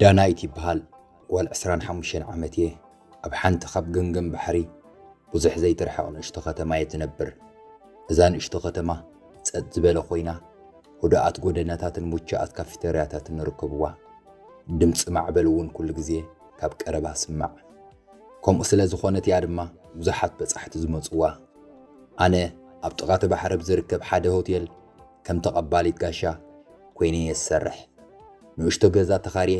ዳናይት ይበሃል ጓል ዕስራን ሓሙሽተን ዓመት እየ ኣብ ሓንቲ ካብ ገምገም ባሕሪ ብዙሕ ዘይትርሕቕ ንእሽቶ ከተማ እየ ትነብር እዛ ንእሽቶ ከተማ ጸጥ ዝበለ ኮይና ህዱኣት ጎደናታትን ሙቸኣት ካፊተርያታትን ንርከብዋ ድምፂ ማዕበል እውን ኩሉ ግዜ ካብ ቀረባ ስማዕ ከምኡ ስለ ዝኾነት እያ ድማ ብዙሓት በጻሕቲ ዝመጽዋ። ኣነ ኣብ ጥቓ እቲ ባሕሪ ኣብ ዝርከብ ሓደ ሆቴል ከም ተቐባሊት ጋሻ ኰይነ እየ ዝሰርሕ። ንእሽቶ ገዛ ተኻርየ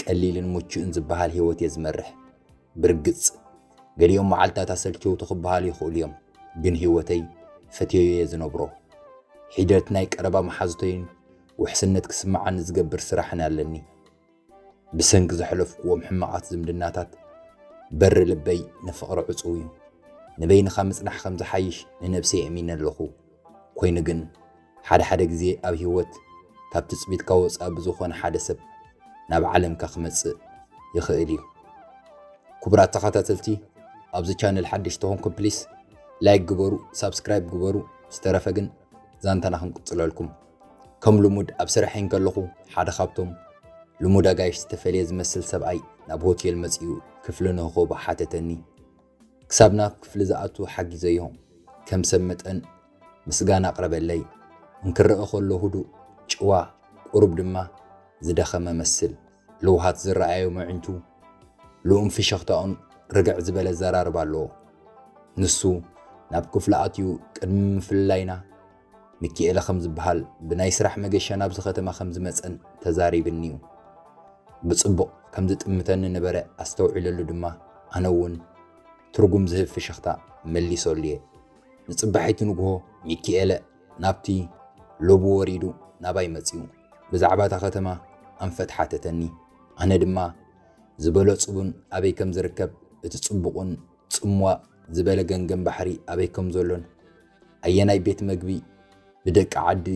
ቀሊልን ምቹእን ዝበሃል ህይወት እየ ዝመርሕ። ብርግጽ ገሊኦም መዓልትታት ኣሰልቸውቲ ክበሃሉ ይኽእሉ እዮም፣ ግን ህይወተይ ፈትየዮ እየ ዝነብሮ። ሒደት ናይ ቀረባ መሓዙተይን ውሕስነት ክስምዓኒ ዝገብር ስራሕን ኣለኒ። ብሰንኪ ዘሕለፍክዎም ሕማቓት ዝምድናታት በሪ ልበይ ንፍቕሪ ዕጹው እዩ። ንበይንኻ ምጽናሕ ከም ዝሓይሽ ንነብሰይ ኣእሚነ ኣለኹ። ኮይኑ ግን ሓደ ሓደ ግዜ ኣብ ህይወት ካብ ትጽቢትካ ወጻኢ ብዝኾነ ሓደ ሰብ ናብ ዓለምካ ክመጽእ ይኽእል እዩ። ክቡራት ተኸታተልቲ ኣብዚ ቻነል ሓደሽቲ ኮንኩም ፕሊስ ላይክ ግበሩ ሳብስክራይብ ግበሩ ዝተረፈ ግን ዛንታና ክንቅጽለልኩም ከም ልሙድ ኣብ ስርሐይ እንከለኹ ሓደ ካብቶም ልሙድ ኣጋይሽ ዝተፈልየ ዝመስል ሰብኣይ ናብ ሆቴል መጺኡ ክፍሊ ንኽህቦ ሓተተኒ። ክሳብ ናብ ክፍሊ ዝኣቱ ሓጊዘዮ። ከም ሰብ መጠን ምስጋና ኣቕረበለይ። እንክረኣ ከሎ ህዱእ፣ ጭዋ፣ ቁሩብ ድማ ዝደኸመ መስል። ለውሃት ዝረኣዮም ኣዒንቱ፣ ልኡም ፍሽኽታኡን ርግዕ ዝበለ ኣዘራርባ ኣለዎ። ንሱ ናብ ክፍሉ ኣትዩ ቅድሚ ምፍልላይና፣ ሚኪኤለ ከም ዝበሃል ብናይ ስራሕ መገሻ ናብዚ ከተማ ከም ዝመጸን ተዛሪብኒ'ዩ። ብጽቡቕ ከም ዝጥምተኒ ነበረ ኣስተውዒለሉ ድማ ኣነ'ውን ትርጉም ዝህብ ፍሽኽታ መሊሰሉ'የ። ንጽባሒቱ ንግሆ ሚኪኤለ ናብቲ ሎቢ ወሪዱ ናባይ መጺኡ ብዛዕባ እታ ከተማ ኣንፈት ሓተተኒ። ኣነ ድማ ዝበለጹ ቡን ኣበይ ከም ዝርከብ እቲ ጽቡቕን ጽምዋ ዝበለ ገንገን ባሕሪ ኣበይ ከም ዘሎን ኣየናይ ቤት መግቢ ብደቂ ዓዲ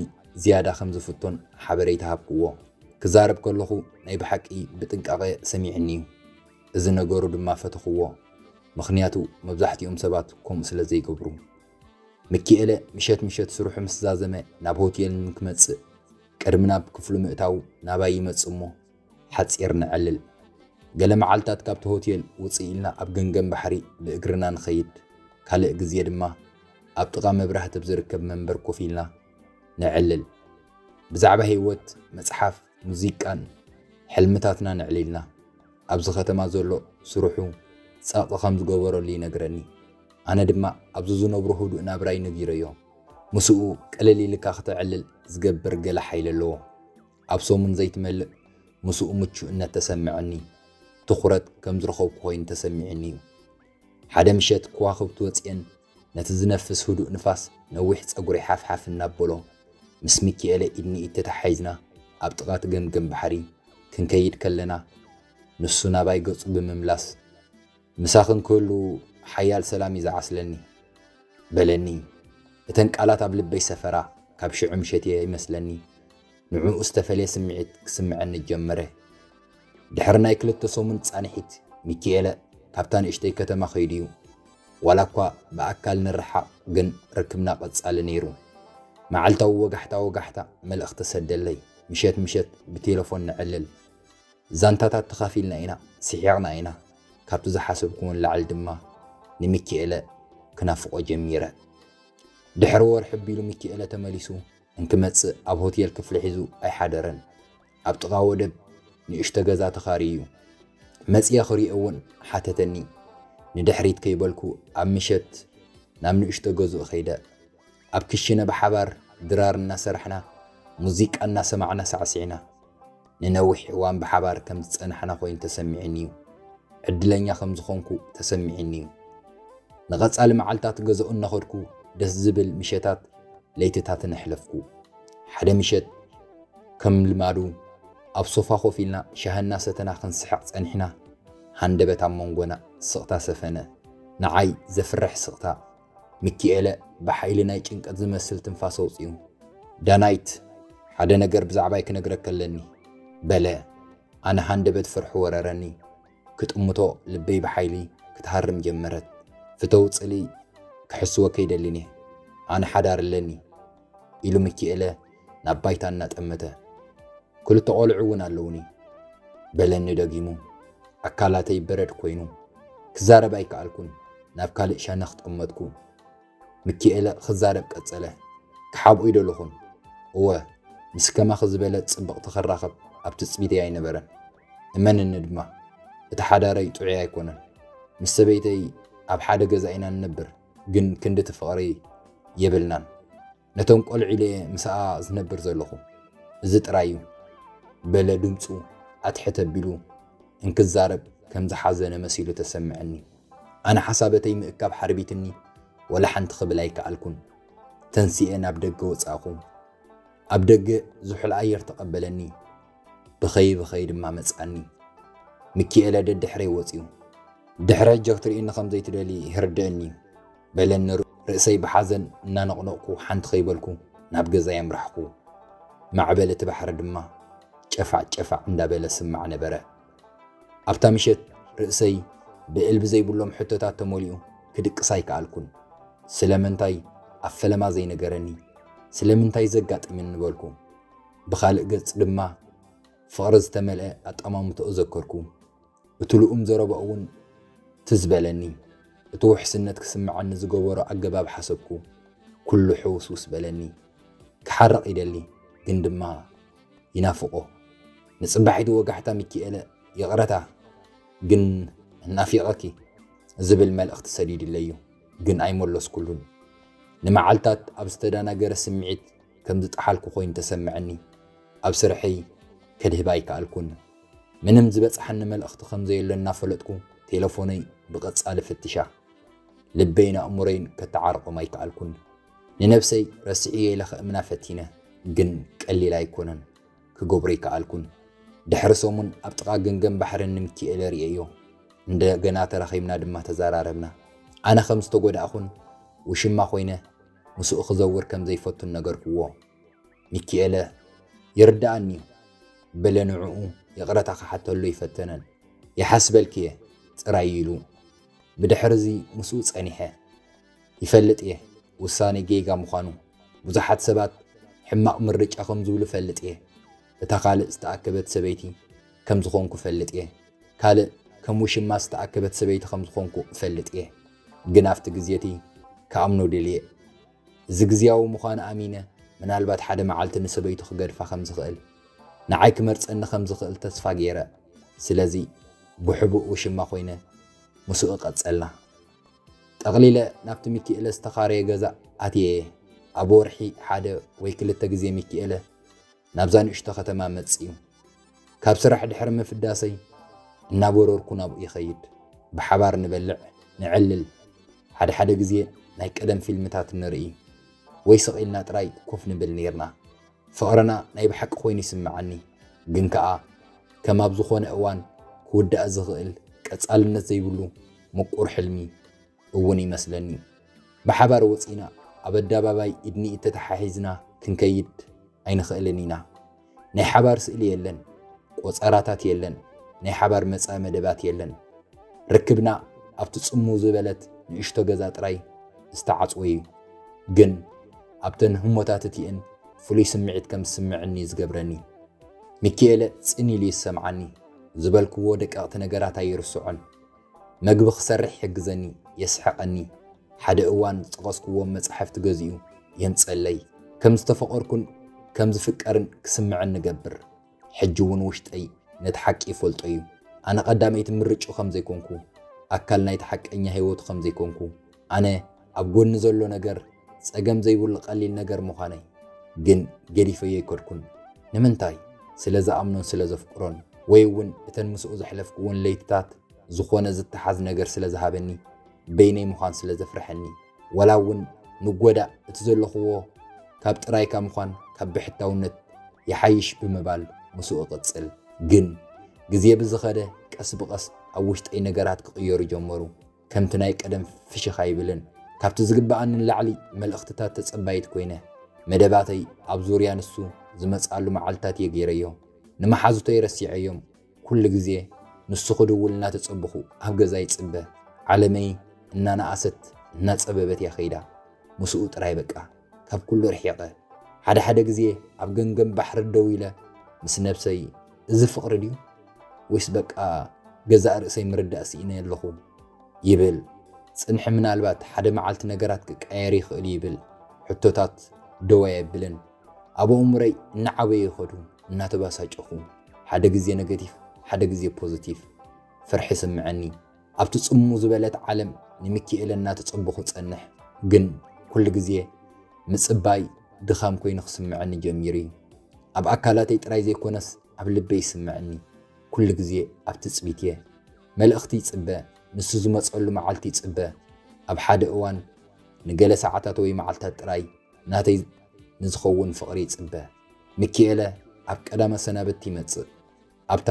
ዝያዳ ከም ዝፍቶን ሓበሬታ ሃብክዎ። ክዛረብ ከለኹ ናይ ብሓቂ ብጥንቃቐ ሰሚዑኒ'ዩ። እዚ ነገሩ ድማ ፈተኽዎ፣ ምኽንያቱ መብዛሕትኦም ሰባት ከምኡ ስለ ዘይገብሩ። ምኪኤለ ምሸት ምሸት ስርሑ ምስ ዛዘመ ናብ ሆቴል ንክመጽእ ቅድሚ ናብ ክፍሉ ምእታዉ ናባይ ይመጽእ'ሞ ሓጺር ነዕልል። ገለ መዓልታት ካብቲ ሆቴል ውጽእ ኢልና ኣብ ገምገም ባሕሪ ብእግርና ንኸይድ፣ ካልእ ግዜ ድማ ኣብ ጥቓ መብራህቲ ኣብ ዝርከብ መንበር ኮፍ ኢልና ነዕልል። ብዛዕባ ህይወት፣ መጽሓፍ፣ ሙዚቃን ሕልምታትና ነዕሊልና። ኣብዚ ከተማ ዘሎ ስርሑ ጸቕጢ ከም ዝገበረሉ ይነግረኒ። ኣነ ድማ ኣብዚ ዝነብሮ ህዱእ ናብራይ ነጊረዮ። ምስኡ ቅልል ኢልካ ክተዕልል ዝገብር ገለ ሓይሊ ኣለዎ። ኣብ ሰሙን ዘይትመልእ ምስኡ ምቹእነት ተሰመዐኒ። ትኹረት ከም ዝረኸብኩ ኮይኑ ተሰሚዑኒ እዩ። ሓደ ምሸት ከዋኽብቲ ወጺኤን ነቲ ዝነፍስ ህዱእ ንፋስ ነዊሕ ጸጉረይ ሓፍሓፍ እናበሎ፣ ምስ ሚኪኤለ ኢድ ንኢድ ተተሓሒዝና ኣብ ጥቓ እቲ ገምገም ባሕሪ ክንከይድ ከለና፣ ንሱ ናባይ ገጹ ብምምላስ፣ ምሳኽን ክህሉ ሓያል ሰላም እዩ ዝዓስለኒ። በለኒ። እተን ቃላት ኣብ ልበይ ሰፈራ፣ ካብ ሽዑ ምሸት'የ ይመስለኒ ንዕኡ ዝተፈልየ ስምዒት ክስምዐኒ ጀመረ። ድሕሪ ናይ ክልተ ሰሙን ጻንሒት ሚኪኤለ ካብታ ንእሽተይ ከተማ ከይዱ'ዩ። ዋላ'ኳ ብኣካል ንረሓቕ ግን ርክብና ቀጻሊ ነይሩ። መዓልታዊ ወጋሕታ ወጋሕታ መልእኽቲ ሰደለይ፣ ምሸት ምሸት ብቴለፎን ነዕልል። ዛንታታት ተኻፊልና ኢና ስሒቕና ኢና ካብቲ ዝሓሰብኩዎ ንላዕሊ ድማ ንሚኪኤለ ክናፍቖ ጀሚረ ድሕሪ ወርሒ ኣቢሉ ሚኪኤለ ተመሊሱ እንክመጽእ ኣብ ሆቴል ክፍሊ ሒዙ ኣይሓደረን ኣብ ጥቓ ወደብ ንእሽቶ ገዛ ተኻርዩ መጽየ ክሪኦ እውን ሓተተኒ ንድሕሪት ከይበልኩ ኣብ ምሸት ናብ ንእሽቶ ገዝኡ ከይደ ኣብ ክሽነ ብሓባር ድራር እናሰራሕና ሙዚቃ እናሰማዕና ሳዕሲዕና ንነዊሕ እዋን ብሓባር ከም ዝጸናሕና ኮይኑ ተሰሚዑኒ'ዩ። ዕድለኛ ከም ዝኾንኩ ተሰሚዑኒ'ዩ። ንቐጻሊ መዓልታት ገዛኡ እናኸድኩ ደስ ዝብል ምሸታት ለይትታትን ኣሕለፍኩ። ሓደ ምሸት ከም ልማዱ ኣብ ሶፋ ኮፍ ኢልና ሻሂ እናሰተና ክንስሕቕ ጸኒሕና ሃንደበት ኣብ መንጎና ስቕታ ሰፈነ። ንዓይ ዘፍርሕ ስቕታ፣ ሚኪኤለ ብሓይሊ ናይ ጭንቀት ዝመስል ትንፋስ ኣውጺኡ፣ ዳናይት፣ ሓደ ነገር ብዛዕባይ ክነግረኪ ኣለኒ፣ በለ። ኣነ ሃንደበት ፍርሒ ወረረኒ። ክጥምቶ ልበይ ብሓይሊ ክትሃርም ጀመረት። ፍተው ጽልኢ ክሕስወኪ ኣይደልን'የ። ኣነ ሓዳር ኣለኒ። ኢሉ ሚኪኤለ ናብ ባይታ እናጠመተ። ክልተ ቖልዑ እውን ኣለዉኒ። በለኒ ደጊሙ። ኣካላተይ በረድ ኮይኑ። ክዛረብ ኣይከኣልኩን፣ ናብ ካልእ ሸነኽ ጠመትኩ። ሚኪኤለ ክዛረብ ቀጸለ። ክሓብኦ'ዩ ደለኹን። እወ፣ ምስ ከማኺ ዝበለት ጽብቕቲ ክራኸብ ኣብ ትጽቢተይ ኣይነበረን። እመንኒ ድማ፣ እቲ ሓዳረይ ጥዑይ ኣይኮነን። ምስ ሰበይተይ ኣብ ሓደ ገዛ ኢና ንነብር። ግን ክንዲ እቲ ፍቕሪ የብልናን ነቶም ቆልዑ ኢለ እየ ምሳኣ ዝነብር ዘለኹ እዚ ጥራይ እዩ በለ ድምፁ ኣትሕት ኣቢሉ እንክዛረብ ከም ዝሓዘነ መሲሉ ተሰምዐኒ ኣነ ሓሳበተይ ምእካብ ሓርቢትኒ ወላ ሓንቲ ክብል ኣይከኣልኩን ተንሲኤ ናብ ደገ ወፃእኹ ኣብ ደገ ዝሑል ኣየር ተቐበለኒ ብኸይ ብኸይ ድማ መጽኣኒ። ምኪኤለ ደድሕረይ ወጺኡ። ድሕሪ ሕጂ ክትርእየኒ ከም ዘይትደልዪ ይርድእኒ እዩ። በለኒ ርእሰይ ብሓዘን እናነቕነቕኩ ሓንቲ ከይበልኩ ናብ ገዛይ ኣምራሕኩ። ማዕበል እቲ ባሕሪ ድማ ጨፋዕ ጨፋዕ እንዳበለ ስማዕ ነበረ። ኣብታ ምሸት ርእሰይ ብእልቢ ዘይብሎም ሕቶታት ተመሊኡ ክድቅስ ኣይከኣልኩን። ስለምንታይ ኣብ ፈለማ ዘይነገረኒ? ስለምንታይ ዘጋጥምኒ በልኩ። ብኻልእ ገፅ ድማ ፍቕሪ ዝተመልአ ኣጠማምትኡ ዘከርኩ። እቲ ልኡም ዘረባኡ እውን ትዝ በለኒ። እቲ ውሕስነት ክስመዐኒ ዝገበሮ ኣገባብ ሓሰብኩ። ኩሉ ሕውስውስ በለኒ። ክሓርቕ ይደሊ ግን ድማ ይናፍቖ። ንፅባሒቱ ወጋሕታ ሚኪኤለ ይቕረታ ግን ናፊቐኪ ዝብል መልእኽቲ ሰዲድለይ እዩ ግን ኣይመለስኩሉን። ንመዓልታት ኣብ ዝተደናገረ ስምዒት ከም ዝጠሓልኩ ኮይኑ ተሰመዐኒ። ኣብ ስርሐይ ከድህብ ኣይከኣልኩን። ምንም ዝበጽሓኒ መልእኽቲ ከም ዘየሎ እናፈለጥኩ ቴለፎነይ ብቐጻሊ ፍትሻ። ልበይን ኣእምሮይን ከተዓርቖም ኣይከኣልኩን። ንነብሰይ ረሲዕዮ ኢለ ከእምና ፈቲነ፣ ግን ቀሊል ኣይኮነን። ክገብሮ ኣይከኣልኩን። ድሕሪ ሰሙን ኣብ ጥቓ ገምገም ባሕሪ ንምኪኤለ ርእየዮ። እንደገና ተራኺብና ድማ ተዘራረብና። ኣነ ከም ዝተጎዳእኹን ውሽማ ኮይነ ምስኡ ክዘውር ከም ዘይፈቱን ነገርኩዎ። ሚኪኤለ፣ ይርድኣኒ'ዩ፣ በለ ንዕኡ ይቕረታ ክሓተሉ ኣይፈተነን። ይሓስበልኪ'የ ጥራይ ኢሉ። ብድሕር'ዚ ምስኡ ጸኒሐ። ይፈልጥ'የ ውሳኔ ጌጋ ምዃኑ፣ ብዙሓት ሰባት ሕማቕ ምርጫ ከም ዝብሉ እፈልጥ'የ፣ እታ ካልእ ዝተኣከበት ሰበይቲ ከም ዝኾንኩ እፈልጥ'የ። ካልእ ከም ውሽማ ዝተኣከበት ሰበይቲ ከም ዝኾንኩ እፈልጥ እየ፣ ግን ኣብቲ ግዜ እቲ ክኣምኖ ደልየ። እዚ ግዝያዊ ምዃኑ ኣሚነ ምናልባት ሓደ መዓልቲ ንሰበይቱ ክገድፋ ከም ዝኽእል፣ ንዓይ ክመርጸኒ ከም ዝኽእል ተስፋ ገይረ። ስለዚ ብሕቡእ ውሽማ ኮይነ ምስኡ ቀጸልና። ጠቕሊለ ናብቲ ሚኪኤለ ዝተኻረየ ገዛ ኣትየ እየ፣ ኣብ ወርሒ ሓደ ወይ ክልተ ግዜ ሚኪኤለ ናብዛ ንእሽቶ ከተማ መጺኡ። ካብ ስራሕ ድሕሪ ምፍዳሰይ እናበረርኩ ናብኡ ይኸይድ። ብሓባር ንበልዕ፣ ነዕልል፣ ሓድሓደ ግዜ ናይ ቀደም ፊልምታት ንርኢ፣ ወይ ስቕ ኢልና ጥራይ ኮፍ ንብል ኔርና። ፍቕርና ናይ ብሓቂ ኮይኑ ይስምዓኒ፣ ግን ከኣ ከም ኣብ ዝኾነ እዋን ክውዳእ ዝኽእል ቀጻልነት ዘይብሉ ምቁር ሕልሚ፣ እውን ይመስለኒ ብሓባር ወፂና ኣብ ኣዳባባይ ኢድኒኢድ ተታሓሒዝና ክንከይድ ኣይንኽእልን ኢና ናይ ሓባር ስእሊ የለን ቆፀራታት የለን ናይ ሓባር መፃኢ መደባት የለን ርክብና ኣብቲ ፅምው ዝበለት ንእሽቶ ገዛ ጥራይ ዝተዓፅወ እዩ ግን ኣብተን ህሞታት እቲኤን ፍሉይ ስምዒት ከም ዝስምዕኒ እዩ ዝገብረኒ ሚኪኤለ ፅን ኢሉ ይሰምዓኒ ዝበልክዎ ደቀቕቲ ነገራት ኣይርስዖን መግቢ ክሰርሕ ይሕግዘኒ፣ የስሕቐኒ፣ ሓደ እዋን ዝጠቐስኩዎም መጻሕፍቲ ገዚኡ የምጽእለይ፣ ከም ዝተፈቐርኩን ከም ዝፍቀርን ክስምዐኒ እገብር። ሕጂ እውን ውሽጠይ ነቲ ሓቂ ይፈልጦ እዩ፣ ኣነ ቀዳመይቲ ምርጭኡ ከም ዘይኮንኩ፣ ኣካል ናይቲ ሓቀኛ ህይወቱ ከም ዘይኮንኩ። ኣነ ኣብ ጎኒ ዘሎ ነገር ጸገም ዘይብሉ ቀሊል ነገር ምዃነይ ግን ገዲፈዮ ኣይከድኩን። ንምንታይ? ስለ ዝኣምኖን ስለ ዘፍቅሮን ወይ እውን እተን ምስኡ ዘሕለፍኩወን ለይትታት ዝኾነ ዝተሓዝ ነገር ስለ ዝሃበኒ በይነይ ምዃን ስለ ዘፍረሐኒ ዋላ እውን ንጎዳእ እቲ ዘለኹዎ ካብ ጥራይካ ምዃን ካብ ብሕታውነት ይሓይሽ ብምባል ምስኡ እቕጽል። ግን ግዜ ብዝኸደ ቀስ ብቐስ ኣብ ውሽጠይ ነገራት ክቕየሩ ጀመሩ። ከምቲ ናይ ቀደም ፍሽኽ ኣይብልን። ካብቲ ዝግበኣኒ ንላዕሊ መልእኽትታት ተጸባዪት ኰይነ፣ መደባተይ ኣብ ዙርያ ንሱ ዝመጽኣሉ መዓልትታት እየ ገይረዮ። ንመሓዙተይ ረሲዐዮም፣ ኵሉ ግዜ ንሱ ክድውል እናተጸበኹ ኣብ ገዛ ይጽበ። ዓለመይ እናነኣሰት እናጸበበት እያ ከይዳ፣ ምስኡ ጥራይ በቃ። ካብ ኩሉ ርሒቐ ሓደ ሓደ ግዜ ኣብ ገምገም ባሕሪ ደው ኢለ ምስ ነብሰይ እዚ ፍቕሪ ድዩ ወይስ በቃ ገዛእ ርእሰይ ምርዳእ ስኢነ ኣለኹ ይብል ጽንሒ ምናልባት ሓደ መዓልቲ ነገራት ክቀየር ይኽእል ይብል ሕቶታት ደው ኣየብልን ኣብ ኣእምሮይ እናዓበየ ይኸዱ እናተባሳጨኹ ሓደ ግዜ ነገቲቭ ሓደ ግዜ ፖዚቲቭ ፍርሒ ስምዐኒ ኣብቲ ጽሙ ዝበለት ዓለም ንምኪኤለ እናተጸበኹ እጸንሕ። ግን ኩሉ ግዜ ምጽባይ ድኻም ኮይኑ ክስምዐኒ ጀሚሩ እዩ። ኣብ ኣካላተይ ጥራይ ዘይኮነስ ኣብ ልበይ ይስምዐኒ። ኩሉ ግዜ ኣብ ትጽቢት እየ። መልእኽቲ ይጽበ፣ ንሱ ዝመጸሉ መዓልቲ ይጽበ። ኣብ ሓደ እዋን ንገለ ሰዓታት ወይ መዓልታት ጥራይ ናተይ ንዝኸውን ፍቕሪ ይጽበ። ምኪኤለ ኣብ ቀዳመ ሰናብቲ ይመጽእ። ኣብታ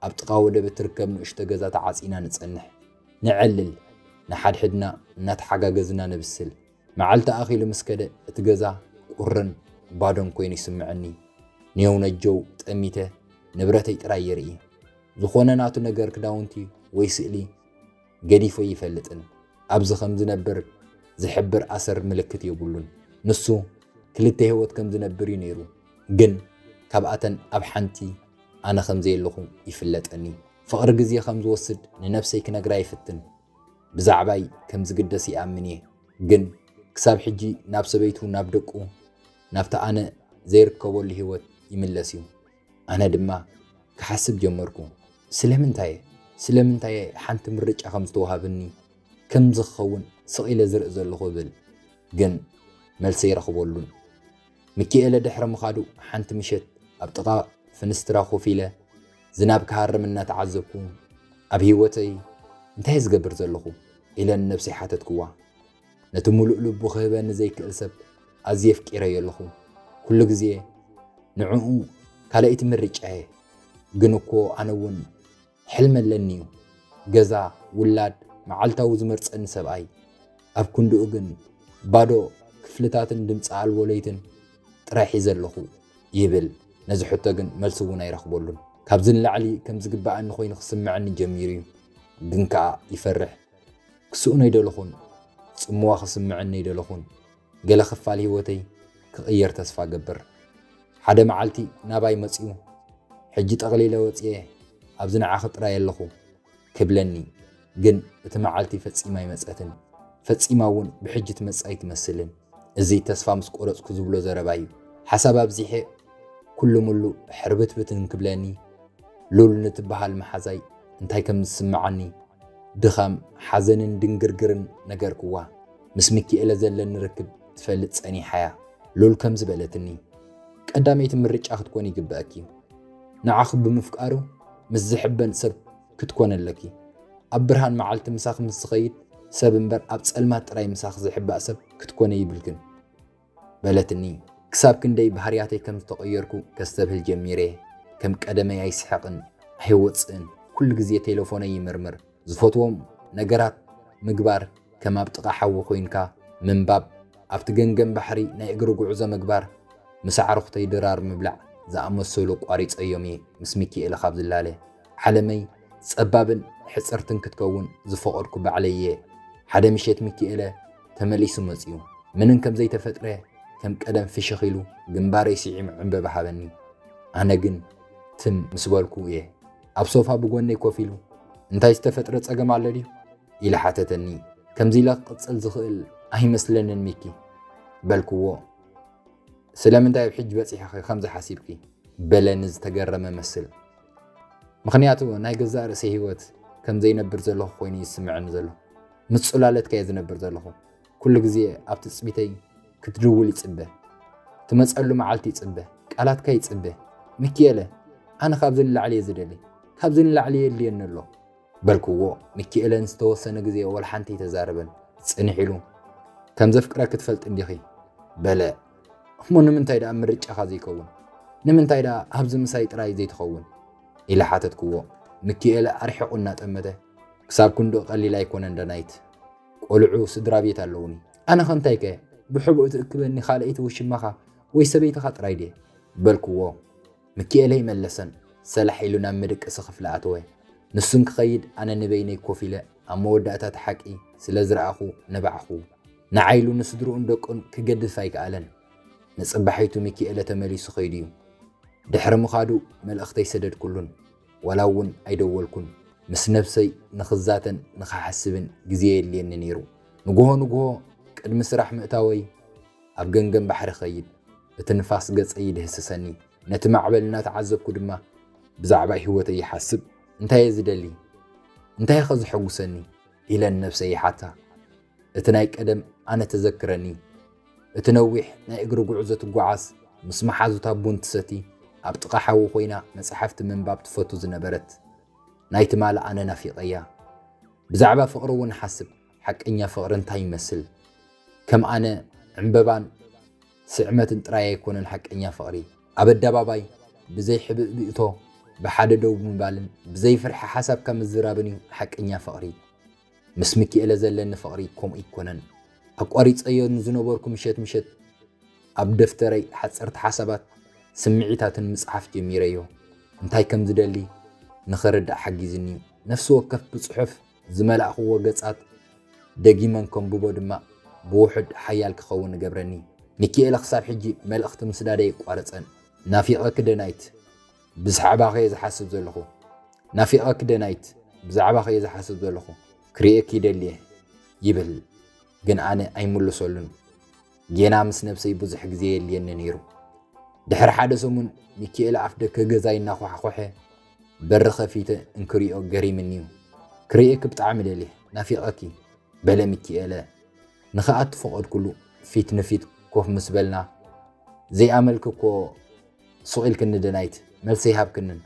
ኣብ ጥቓ ወደብ እትርከብ ንእሽቶ ገዛ ተዓጺና ንጸንሕ። ነዕልል። ንሓድሕድና እናተሓጋገዝና ነብስል። መዓልቲ ኣኺሉ ምስ ከደ፣ እቲ ገዛ ቁርን ባዶን ኰይኑ ይስምዓኒ። ኔው ነጀው ጠሚተ ንብረተይ ጥራይ የርኢ። ዝዀነ ናቱ ነገር ክዳውንቲ ወይ ስእሊ። ገዲፉ ኣይፈልጥን። ኣብዚ ከም ዝነብር ዝሕብር ኣሰር ምልክት የብሉን። ንሱ ክልተ ህይወት ከም ዝነብር እዩ ነይሩ፣ ግን ካብኣተን ኣብ ሓንቲ ኣነ ከም ዘየለኹ ይፍለጠኒ። ፍቕሪ ግዜ ከም ዝወስድ ንነብሰይ ክነግራ ይፍትን። ብዛዕባይ ከም ዝግደስ ይኣምን እየ፣ ግን ክሳብ ሕጂ ናብ ሰበይቱ፣ ናብ ደቁ፣ ናብቲ ኣነ ዘይርከበሉ ህይወት ይምለስ እዩ። ኣነ ድማ ክሓስብ ጀመርኩ፣ ስለምንታይ'የ ስለምንታይ'የ ሓንቲ ምርጫ ከም ዝተዋህብኒ ከምዚ ክኸውን ስቕ ኢለ ዝርኢ ዘለኹ እብል። ግን መልሲ ኣይረኽበሉን። ሚኪኤለ ድሕሪ ምኻዱ ሓንቲ ምሸት ኣብ ጥቓ ፍንስትራ ኮፍ ኢለ ዝናብ ክሃርም እናተዓዘብኩ፣ ኣብ ህይወተይ እንታይ'የ ዝገብር ዘለኹ? ኢለ ንነብሰይ ሓተትክዋ። ነቲ ምሉእ ልቡ ክህበኒ ዘይክእል ሰብ ኣዝየ ኣፍቂረዮ ኣለኹ። ኩሉ ግዜ ንዕኡ ካልኣይቲ ምርጫየ። ግን እኮ ኣነ እውን ሕልሚ ኣለኒ እዩ፣ ገዛ፣ ውላድ፣ መዓልታዊ ዝመርጸኒ ሰብኣይ። ኣብ ክንድኡ ግን ባዶ ክፍልታትን ድምጺ ኣልቦ ለይትን ጥራይ ሒዘ ኣለኹ ይብል። ነዚ ሕቶ ግን መልሲ እውን ኣይረኽበሉን። ካብዚ ንላዕሊ ከም ዝግበኣኒ ኮይኑ ክስምዐኒ ጀሚሩ እዩ፣ ግን ከኣ ይፈርሕ። ክስእኖ ኣይደለኹን፣ ጽምዋ ክስምዐኒ ኣይደለኹን፣ ገለ ክፋል ህይወተይ ክቕየር ተስፋ እገብር። ሓደ መዓልቲ ናባይ መጺኡ፣ ሕጂ ጠቕሊለ ወጺኤ ኣብዚ ንዓኺ ጥራይ ኣለኹ ክብለኒ፣ ግን እቲ መዓልቲ ፈጺማ ኣይመጸትን፣ ፈጺማ እውን ብሕጂ ትመጽእ ኣይትመስልን። እዚ ተስፋ ምስ ቆረጽኩ ዝብሎ ዘረባ እዩ። ሓሳብ ኣብዚሐ ኩሉ ምሉ ሕርብትብት እንክብለኒ፣ ሉል ንትበሃል መሓዛይ እንታይ ከም ዝስምዓኒ ድኻም፣ ሓዘንን ድንግርግርን ነገርክዋ። ምስ ምኪኤለ ዘለኒ ርክብ ትፈልጥ ጸኒሓ'ያ። ሉል ከምዚ በለትኒ። ቀዳመይቲ ምርጫ ክትኮኒ ይግበኣኪ'ዩ። ንዓኺ ብምፍቃሩ ምስ ዝሕበን ሰብ ክትኮኒ ኣለኪ። ኣብ ብርሃን መዓልቲ ምሳኺ ምስ ዝኸይድ ሰብ እምበር ኣብ ጸልማት ጥራይ ምሳኺ ዝሕባእ ሰብ ክትኮኒ ኣይብልክን። በለትኒ። ክሳብ ክንደይ ባህርያተይ ከም ዝተቐየርኩ ከስተብህል ጀሚረ። ከም ቀደመይ ኣይስሕቕን፣ ኣይወጽእን፣ ኩሉ ግዜ ቴለፎነይ ይምርምር። ዝፈትዎም ነገራት ምግባር ከም ኣብ ጥቓ ሓዊ ኮይንካ ምንባብ፣ ኣብቲ ገንገን ባሕሪ ናይ እግሪ ጉዕዞ ምግባር፣ ምስ ኣዕሩኽተይ ድራር ምብላዕ ዝኣመሰሉ ኣቋሪጸዮም'የ ምስ ሚኪኤለ ካብ ዝላለ። ዓለመይ ጸባብን ሕጽርትን ክትከውን ዝፈቐድኩ ባዕለይ'የ። ሓደ ምሸት ሚኪኤለ ተመሊሱ መጺኡ። ምንም ከም ዘይተፈጥረ ከም ቀደም ፍሽኽ ኢሉ ግንባረይ ስዒሙ ዕንበባ ሃበኒ። ኣነ ግን ትም ምስ በልኩ'የ። ኣብ ሶፋ ብጎነይ ኮፍ ኢሉ እንታይ ዝተፈጥረ ጸገም ኣሎ ድዩ? ኢሉ ሓተተኒ። ከምዚ ኢለ ክቕጽል ዝኽእል ኣይመስለንን ሚኪ። በልክዎ። ስለምንታይ ኣብ ሕጂ በጺሕኺ ከምዚ ሓሲብኪ? በለኒ ዝተገረመ መስል። ምኽንያቱ ናይ ገዛእ ርእሰይ ህይወት ከም ዘይነብር ዘለኹ ኮይኑ እዩ ዝስምዐኒ ዘሎ። ምስ ጽላለትካ እየ ዝነብር ዘለኹ። ኩሉ ግዜ ኣብ ትጽቢተይ ክትድውል ይጽበ። ትመጸሉ መዓልቲ ይጽበ። ቃላትካ ይጽበ። ሚኪኤለ፣ ኣነ ካብዚ ንላዕሊ እየ ዝደሊ። ካብዚ ንላዕሊ የድልየኒ ኣሎ። በልክዎ። ሚኪኤለ ንዝተወሰነ ግዜ ዋላ ሓንቲ ኣይተዛረበን። ጽንሕ ኢሉ፣ ከም ዘፍቅረኪ ትፈልጢ እንዲኺ? በለ። እሞ ንምንታይ ደኣ ምርጫኻ ዘይከውን? ንምንታይ ደኣ ኣብዚ ምሳይ ጥራይ ዘይትኸውን? ኢለ ሓተትክዎ። ሚኪኤለ ኣርሒቑ እናጠመተ፣ ክሳብ ክንድኡ ቀሊል ኣይኮነን ዳናይት። ቆልዑ ስድራ ቤት ኣለዉኒ። ኣነ ከ እንታይ ከ ብሕቡእ ትእክበኒ ካልኣይቲ ውሽማኻ ወይ ሰበይትኻ ጥራይ ድየ? በልክዎ። ምኪኤለይ መለሰን ሰላሕ ኢሉ ናብ መደቀሲ ክፍሊ ኣተወ። ንሱ እንክኸይድ ኣነ ንበይነይ ኮፍ ኢለ ኣብ መወዳእታ እቲ ሓቂ ስለ ዝረኣኹ ነባዕኹ። ንዓይ ኢሉ ንስድርኡን ደቁን ክገድፍ ኣይከኣለን። ንጽባሒቱ ምኪኤለ ተመሊሱ ከይዱ'ዩ። ድሕሪ ምኻዱ መልእኽቲ ኣይሰደድኩሉን። ዋላ እውን ኣይደወልኩን። ምስ ነብሰይ ንኽዛተን ንኽሓስብን ግዜ የድልየኒ ነይሩ። ንግሆ ንግሆ ቅድሚ ስራሕ ምእታወይ ኣብ ገምገም ባሕሪ እኸይድ። እቲ ንፋስ ገጸይ ይድህስሰኒ፣ ነቲ ማዕበል እናተዓዘብኩ ድማ ብዛዕባ ህይወተይ ይሓስብ። እንታይ'የ ዝደሊ? እንታይ'ኸ ዘሐጕሰኒ? ኢለ ንነብሰይ ይሓታ። እቲ ናይ ቀደም ኣነ ተዘክረኒ፣ እቲ ነዊሕ ናይ እግሪ ጕዕዞ ትጓዓዝ፣ ምስ መሓዙታ ቡን ትሰቲ፣ ኣብ ጥቓ ሓዊ ኰይና መጻሕፍቲ ምንባብ ትፈቱ ዝነበረት ናይ ትማሊ ኣነ ናፊቐያ። ብዛዕባ ፍቕሪ'ውን እሓስብ። ሓቀኛ ፍቕሪ እንታይ ይመስል? ከም ኣነ ዕምበባን ስዕመትን ጥራይ ኣይኮነን ሓቀኛ ፍቕሪ። ኣብ ኣደባባይ ብዘይ ሕብእብእቶ ብሓደ ደው ብምባልን ብዘይ ፍርሒ ሓሳብካ ምዝራብን እዩ ሓቀኛ ፍቕሪ። ምስ ምኪኤለ ዘለኒ ፍቕሪ ከምኡ ኣይኮነን። ኣቋሪጸዮ ንዝነበርኩ ምሸት ምሸት ኣብ ደፍተረይ ሓጸርቲ ሓሳባት ስምዒታትን ምጽሓፍ ጀሚረዮ። እንታይ ከም ዝደሊ ንኽርዳእ ሓጊዙኒ እዩ። ነፍሲ ወከፍ ብጽሑፍ ዝመላእኽዎ ገጻት ደጊመን ከንብቦ ድማ ብውሑድ ሓያል ክኸውን እገብረኒ። ሚኪኤለ ክሳብ ሕጂ መልእኽቲ ምስዳድ ኣየቋረጸን። ናፊቐኪ ደናይት ብዝሓዕባኺ'የ ዝሓስብ ዘለኹ ናፊቐኪ ደናይት ብዛዕባኺ'የ ዝሓስብ ዘለኹ ክርእየኪ ይደሊ'የ ይብል ግን ኣነ ኣይምልሰሉን። ጌና ምስ ነብሰይ ብዙሕ ግዜ የድልየኒ ነይሩ። ድሕሪ ሓደ ሰሙን ሚኪኤለ ኣፍደገ ገዛይ እናኳሕኮሐ በሪ ከፊተ እንክሪኦ ገሪምኒዩ። ክርእየኪ ብጣዕሚ ደልየ ናፊቐኪ በለ ሚኪኤለ ንክኣቱ ፈቐድኩሉ። ፊት ንፊት ኮፍ ምስ በልና ዘይኣመልኪ እኮ ሱቕ ኢልክኒ ደናይት መልሲ ኣይሃብክንን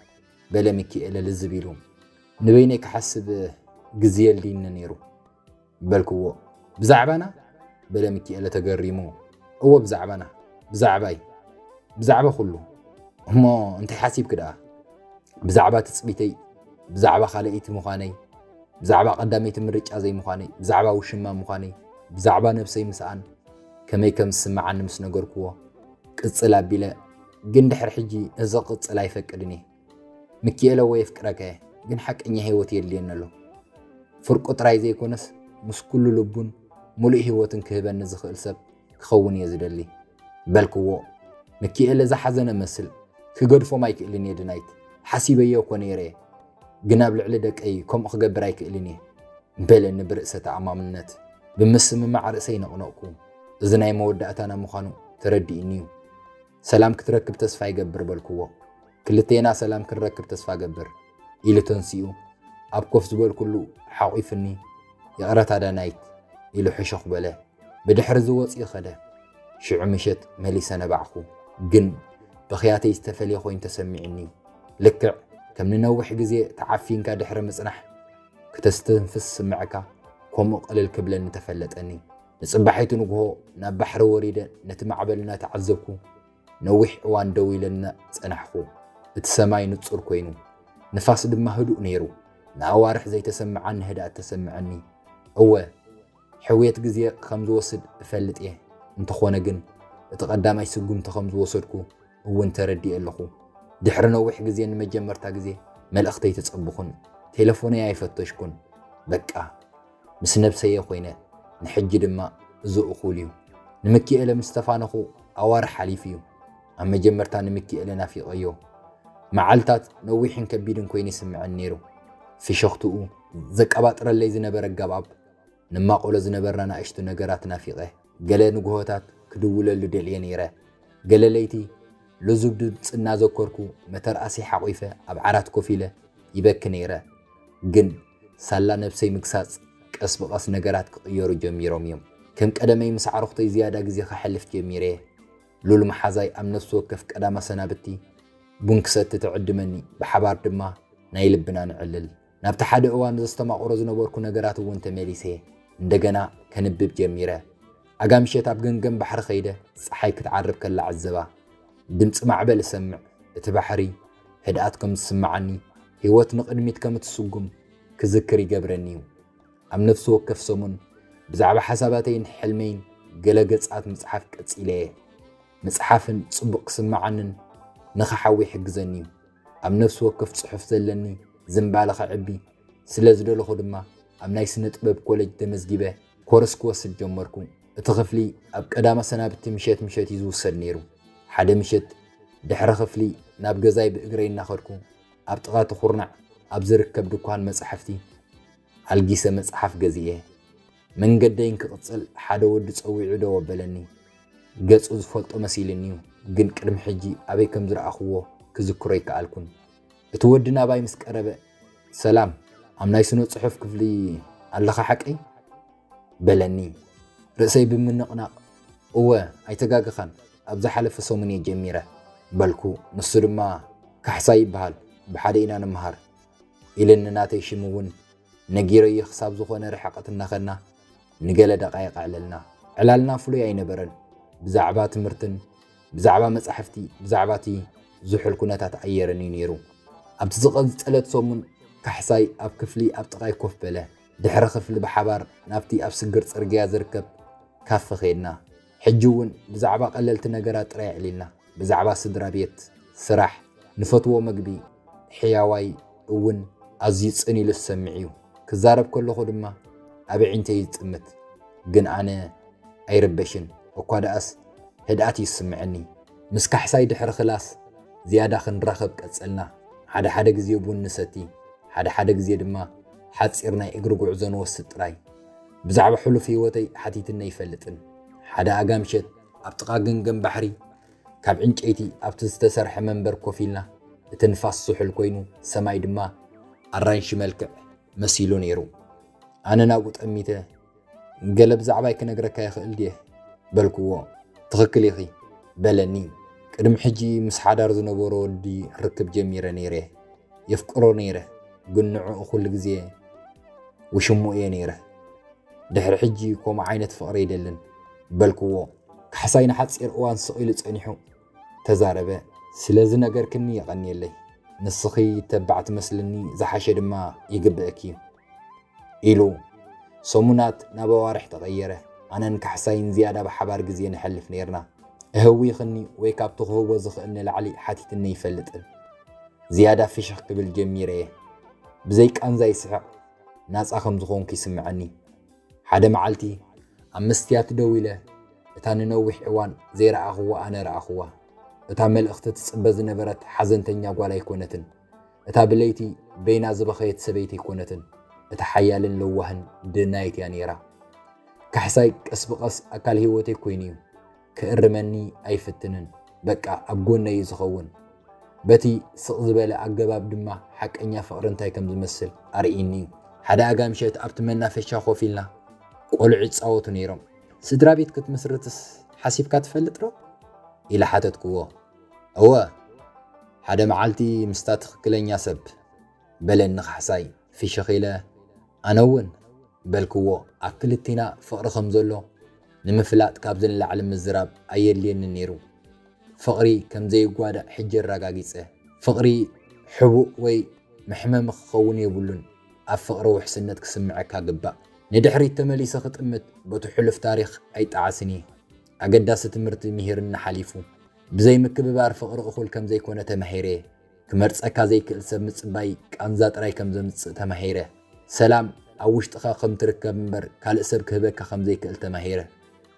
በለ ሚኪኤለ ልዝብ ኢሉ። ንበይነይ ክሓስብ ግዜ የድልይኒ ነይሩ። በልክዎ። ብዛዕባና? በለ ሚኪኤለ ተገሪሙ። እወ ብዛዕባና፣ ብዛዕባይ፣ ብዛዕባ ኩሉ። እሞ እንታይ ሓሲብኪ ደኣ? ብዛዕባ ትጽቢተይ፣ ብዛዕባ ካልኣይቲ ምዃነይ፣ ብዛዕባ ቀዳመይቲ ምርጫ ዘይምዃነይ፣ ብዛዕባ ውሽማ ምዃነይ፣ ብዛዕባ ነብሰይ ምስኣን ከመይ ከም ዝስምዓኒ ምስ ነገርክዎ፣ ቅጽል ኣቢለ ግን ድሕሪ ሕጂ እዚ ክቕጽል ኣይፈቅድን እየ። ምኪኤለ ወይ የፍቅረካ እየ ግን ሓቀኛ ሂወት የድልየኒ ኣሎ ፍርቁ ጥራይ ዘይኮነስ ምስ ኩሉ ልቡን ሙሉእ ሂወትን ክህበኒ ዝክእል ሰብ ክከውን እየ ዝደሊ በልክዎ ምኪኤለ ዝሓዘነ መስል ክገድፎም ኣይክእልን እየ ድናይት ሓሲበዮ እኮ ነይረ እየ ግን ኣብ ልዕሊ ደቀይ ከምኡ ክገብር ኣይክእልን እየ በለኒ ብርእሰ ተኣማምነት ብምስምማዕ ርእሰይ ነቅነቅኩ እዚ ናይ መወዳእታና ምኳኑ ተረዲእኒ እዩ ሰላም ክትረክብ ተስፋ ይገብር በልክዎ። ክልቴና ሰላም ክንረክብ ተስፋ ገብር ኢሉ ተንሲኡ ኣብ ኮፍ ዝበልኩሉ ሓቝፍኒ ይቕረታ ዳናይት ኢሉ ሕሹኽ በለ። ብድሕሪ'ዚ ወጺኡ ከደ። ሽዑ ምሸት መሊሰ ነባዕኩ። ግን ብኽያተይ ዝተፈልየ ኮይኑ ተሰሚዑኒ። ልክዕ ከም ንነዊሕ ግዜ ተዓፊንካ ድሕሪ ምጽናሕ ክተስተንፍስ ዝስምዕካ ከምኡ ቅልል ክብለኒ ተፈለጠኒ። ንጽባሒቱ ንግሆ ናብ ባሕሪ ወሪደ ነቲ ማዕበል እናተዓዘብኩ ነዊሕ እዋን ደው ኢለና ጸናሕኩ። እቲ ሰማይ ንጹር ኮይኑ ንፋስ ድማ ህዱእ ነይሩ። ንኣዋርሕ ዘይተሰምዓኒ ህድኣት ተሰምዐኒ። እወ ሕውየት ግዜ ከም ዝወስድ እፈልጥ እየ፣ እንተኾነ ግን እቲ ቀዳማይ ስጉምቲ ከም ዝወሰድኩ እውን ተረዲኤ ኣለኹ። ድሕሪ ነዊሕ ግዜ ንመጀመርታ ግዜ መልእኽተይ ተጸብኹን ቴለፎነይ ኣይፈተሽኩን። በቃ ምስ ነብሰይ'የ ኮይነ ንሕጂ ድማ እዚ እኹል እዩ ንምኪኤለ ምስ ተፋነኹ ኣዋርሕ ሓሊፉ እዩ ኣብ መጀመርታ ንምኪኤለ ናፊቀዮ መዓልታት ነዊሕን ከቢድን ኮይኑ ይስምዐኒ ነይሩ ፍሽኽትኡ ዘቀባጥረለይ ዝነበረ ኣገባብ ንማቆሎ ዝነበርና ናእሽቱ ነገራት ናፊቀ ገለ ንግሆታት ክድውለሉ ደልየ ነይረ። ገለ ለይቲ ልዙብ ድምጺ እናዘከርኩ መተርኣሰይ ሓቚፈ ኣብ ዓራት ኮፍ ኢለ ይበኪ ነይረ። ግን ሳላ ነብሰይ ምግሳጽ ቀስ ብቐስ ነገራት ክቕየሩ ጀሚሮም እዮም። ከም ቀደመይ ምስ ኣዕሩኽተይ ዝያዳ ግዜ ከሕልፍ ጀሚረ እየ። ሉል መሓዛይ ኣብ ነፍሲ ወከፍ ቀዳም ኣሰናብቲ ቡን ክሰቲ ትዕድመኒ፣ ብሓባር ድማ ናይ ልብና ነዕልል። ናብቲ ሓደ እዋን ዘስተማቕሮ ዝነበርኩ ነገራት እውን ተመሊሰ እንደገና ከንብብ ጀሚረ። ኣጋ ምሸት ኣብ ገምገም ባሕሪ ከይደ ጸሓይ ክትዓርብ ከላ ዕዘባ። ድምጺ ማዕበል እሰምዕ፣ እቲ ባሕሪ ህድኣት ከም ዝስምዓኒ፣ ህይወት ንቕድሚት ከም እትስጉም ክዝክር ይገብረኒ እዩ። ኣብ ነፍሲ ወከፍ ሰሙን ብዛዕባ ሓሳባተይን ሕልመይን ገለ ገጻት ምጽሓፍ ቀጺለ እየ። ምጽሓፍን ጽቡቕ ክስምዓንን ንኽሓዊ ይሕግዘኒ እዩ። ኣብ ነፍሲ ወከፍ ጽሑፍ ዘለኒ ዝንባለ ከዕቢ ስለ ዝደለኹ ድማ ኣብ ናይ ስነ ጥበብ ኮለጅ ተመዝጊበ ኮርስ ክወስድ ጀመርኩ። እቲ ክፍሊ ኣብ ቀዳመ ሰናብቲ ምሸት ምሸት እዩ ዝውሰድ ነይሩ። ሓደ ምሸት ድሕሪ ክፍሊ ናብ ገዛይ ብእግረይ እናኸድኩ ኣብ ጥቓ እቲ ኩርናዕ ኣብ ዝርከብ ድኳን መጻሕፍቲ ኣልጊሰ መጽሓፍ ገዚኤ። መንገደይ እንክቕጽል ሓደ ወዲ ጸዊዑ ደው ኣበለኒ። ገጹ ዝፈልጦ መሲሉኒ'ዩ፣ ግን ቅድሚ ሕጂ ኣበይ ከም ዝረኣኹዎ ክዝክሮ ኣይከኣልኩን። እቲ ወዲ ናባይ ምስ ቀረበ፣ ሰላም፣ ኣብ ናይ ስነ-ጽሑፍ ክፍሊ ኣለኻ ሓቀይ? በለኒ። ርእሰይ ብምንቕናቕ፣ እወ፣ ኣይተጋገኻን፣ ኣብ ዝሓለፈ ሰሙን'የ ጀሚረ፣ በልኩ። ንሱ ድማ፣ ካሕሳይ ይበሃል፣ ብሓደ ኢና ንመሃር፣ ኢሉኒ፣ ናተይ ሽም'ውን ነጊረዮ ክሳብ ዝኾነ ርሕቐት እናኸድና ንገለ ደቓይቕ ኣዕለልና። ዕላልና ፍሉይ ኣይነበረን፣ ብዛዕባ ትምህርትን ብዛዕባ መጻሕፍቲ ብዛዕባ እቲ ዝሑል ኩነታት ኣየርን እዩ ነይሩ። ኣብቲ ዝቐጸለት ሰሙን ካሕሳይ ኣብ ክፍሊ ኣብ ጥቓይ ኮፍ በለ። ድሕሪ ክፍሊ ብሓባር ናብቲ ኣብ ስግር ጽርግያ ዝርከብ ካፈ ከድና። ሕጂ እውን ብዛዕባ ቀለልቲ ነገራት ጥራይ ኣዕሊልና፣ ብዛዕባ ስድራ ቤት፣ ስራሕ፣ ንፈትዎ መግቢ፣ ሕያዋይ እውን ኣዝዩ ጽን ኢሉ ዝሰምዕ እዩ። ክዛረብ ከለኹ ድማ ኣብ ኣዒንተይ ይጥምት። ግን ኣነ ኣይርበሽን፣ እኳ ደኣስ ህድኣት እዩ ዝስምዐኒ። ምስ ካሕሳይ ድሕሪ ክላስ ዝያዳ ክንራኸብ ቀጸልና። ሓደ ሓደ ግዜ ቡን ንሰቲ፣ ሓደ ሓደ ግዜ ድማ ሓጺር ናይ እግሪ ጉዕዞ ንወስድ ጥራይ። ብዛዕባ ሕሉፍ ህይወተይ ሓቲትኒ ኣይፈልጥን። ሓደ ኣጋምሸት ኣብ ጥቓ ገምገም ባሕሪ ካብ ዕንጨይቲ ኣብቲ ዝተሰርሐ መንበር ኮፍ ኢልና፣ እቲ ንፋስ ዝሑል ኮይኑ ሰማይ ድማ ኣራንሺ መልክዕ መሲሉ ነይሩ። ኣነ ናብኡ ጠሚተ፣ ገለ ብዛዕባይ ክነግረካ ይኽእል ድየ? በልክዎ። ትኽክል ኢኺ፣ በለኒ። ቅድሚ ሕጂ ምስ ሓዳር ዝነበሮ ወዲ ርክብ ጀሚረ ነይረ፣ የፍቅሮ ነይረ ግን ንዕኡ ኩሉ ግዜ ውሽምኡ እየ ነይረ ድሕሪ ሕጂ ኮምኡ ዓይነት ፍቅሪ ኣይደልን በልክዎ ካሕሳይ ንሓጺር እዋን ስቅ ኢሉ ጸኒሑ ተዛረበ ስለ ዝነገርክኒ የቀንየለይ ንስኪ ተባዕ ትመስልኒ ዝሓሸ ድማ ይግበእኪ እዩ ኢሉ። ሰሙናት ናብ ኣዋርሕ ተቐየረ። ኣነን ካሕሳይን ዝያዳ ብሓባር ግዜ ነሕልፍ ኔርና። እህዊኽኒ ወይ ካብቲ ክህቦ ዝኽእል ንላዕሊ ሓቲትኒ ኣይፈልጥን። ዝያዳ ፍሽኽ ክብል ጀሚረ'የ። ብዘይ ቃንዛ ይስሕቕ። ናጻ ከም ዝኾንኩ ይስምዓኒ። ሓደ መዓልቲ ኣብ መስትያት ደው ኢለ እታ ንነዊሕ እዋን ዘይረኣኹዋ ኣነ ረኣኹዋ። እታ መልእኽቲ ትጽበ ዝነበረት ሓዘንተኛ ጓል ኣይኮነትን። እታ ብለይቲ በይና ዝበኸየት ሰበይቲ ኣይኮነትን፣ እታ ሓያልን ለዋህን ደናይት እያ ነይራ። ካሕሳይ ቀስ ብቐስ ኣካል ህይወተይ ኮይኑ እዩ። ክእርመኒ ኣይፍትንን፣ በቃ ኣብ ጎነይ እዩ ዝኸውን። በቲ ስቕ ዝበለ ኣገባብ ድማ ሓቀኛ ፍቕሪ እንታይ ከም ዝመስል ኣርእይኒ እዩ። ሓደ ኣጋ ምሸት ኣብቲ መናፈሻ ኮፍ ኢልና ቆልዑ ይጻወቱ ነይሮም። ስድራ ቤት ክትምስርትስ ሓሲብካ ትፈልጥ ዶ? ኢለ ሓተትክዎ። እወ ሓደ መዓልቲ ምስታ ትኽክለኛ ሰብ፣ በለኒ ካሕሳይ ፍሽኽ ኢለ። ኣነ'ውን በልክዎ ኣብ ክልቴና ፍቕሪ ከም ዘሎ ንምፍላጥ ካብዚ ንላዕሊ ምዝራብ ኣየድልየንን ነይሩ። ፍቕሪ ከም ዘይጓዳእ ሕጂ ኣረጋጊጸ። ፍቕሪ ሕቡእ ወይ መሕመሚ ክኸውን የብሉን፣ ኣብ ፍቕሪ ውሕስነት ክስምዐካ ግባእ። ንድሕሪት ተመሊሰ ክጥምት በቱ ሕሉፍ ታሪኽ ኣይጠዓስን እየ። ኣገዳሲ ትምህርቲ ምሂርኒ ሓሊፉ። ብዘይ ምክብባር ፍቕሪ እኹል ከም ዘይኮነ ተማሂረ። ክመርጸካ ዘይክእል ሰብ ምጽባይ ቃንዛ ጥራይ ከም ዘምጽእ ተማሂረ። ሰላም ኣብ ውሽጥኻ ከም ትርከብ እምበር ካልእ ሰብ ክህበካ ከም ዘይክእል ተማሂረ።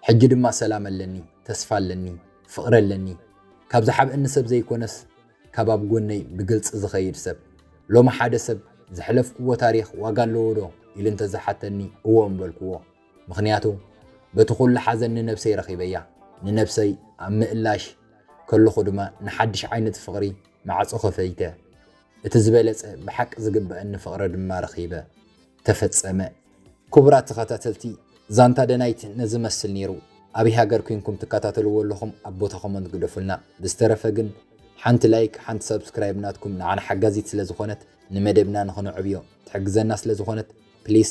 ሕጂ ድማ ሰላም ኣለኒ፣ ተስፋ ኣለኒ፣ ፍቕሪ ኣለኒ። ካብ ዝሓብእኒ ሰብ ዘይኮነስ ካብ ኣብ ጎነይ ብግልጺ ዝኸይድ ሰብ። ሎሚ ሓደ ሰብ ዘሕለፍኩዎ ታሪኽ ዋጋ ኣለዎዶ ኢሉ እንተ ዝሓተኒ እወ ምበልኩዎ። ምኽንያቱ በቲ ኩሉ ሓዘን ንነብሰይ ረኺበያ። ንነብሰይ ኣብ ምእላሽ ከለኹ ድማ ንሓድሽ ዓይነት ፍቕሪ ማዕጾ ከፈይተ። እቲ ዝበለጸ ብሓቂ ዝግበኣኒ ፍቕሪ ድማ ረኺበ። ተፈጸመ። ኩቡራት ተኸታተልቲ ዛንታ ደናይት ነዚ መስል ኔሩ ኣበይ ሃገር ኩንኩም ትከታተልዎ ኣለኹም ኣብ ቦታ ኮመንት ግደፉልና ብዝተረፈ ግን ሓንቲ ላይክ ሓንቲ ሳብስክራይብ ናትኩም ንዓና ሓጋዚት ስለ ዝኾነት ንመደብና ንኽነዕብዮ ትሕግዘና ስለ ዝኾነት ፕሊስ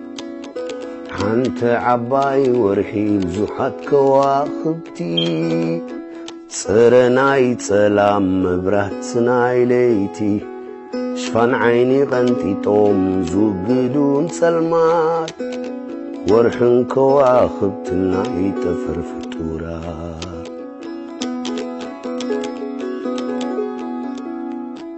ሓንቲ ዓባይ ወርሒ ብዙሓት ከዋኽብቲ ጽረ ናይ ጸላም መብራት ናይ ለይቲ ሽፋን ዓይኒ ቐንጢጦም ዝውግዱን ጸልማት ወርሕን ከዋኽብትን ናይ ጠፈር ፍጡራት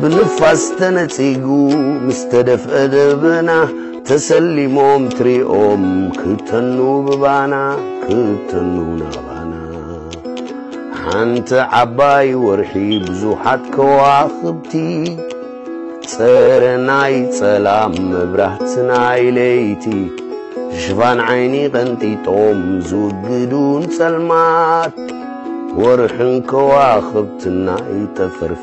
ብንፋስ ተነጺጉ ምስ ተደፍአ ደበና ተሰሊሞም ትሪኦም ክተኑ ብባና ክተኑ ናባና ሓንቲ ዓባይ ወርሒ ብዙሓት ከዋኽብቲ ጸረ ናይ ጸላም መብራህቲ ናይ ለይቲ ሽፋን ዓይኒ ቐንጢጦም ዝውግዱን ጸልማት ወርሕን ከዋኽብትና ይጠፈርፍ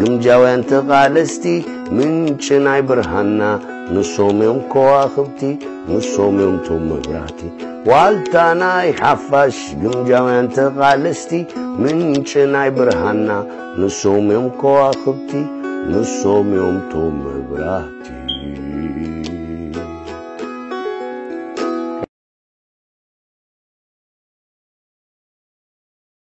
ግምጃውያን ተቓለስቲ ምንጪ ናይ ብርሃንና ንሶም እዮም ከዋኽብቲ ንሶም እዮም ቶም መብራህቲ ዋልታ ናይ ሓፋሽ ግምጃውያን ተቓለስቲ ምንጪ ናይ ብርሃንና ንሶም እዮም ከዋኽብቲ ንሶም እዮም ቶም መብራህቲ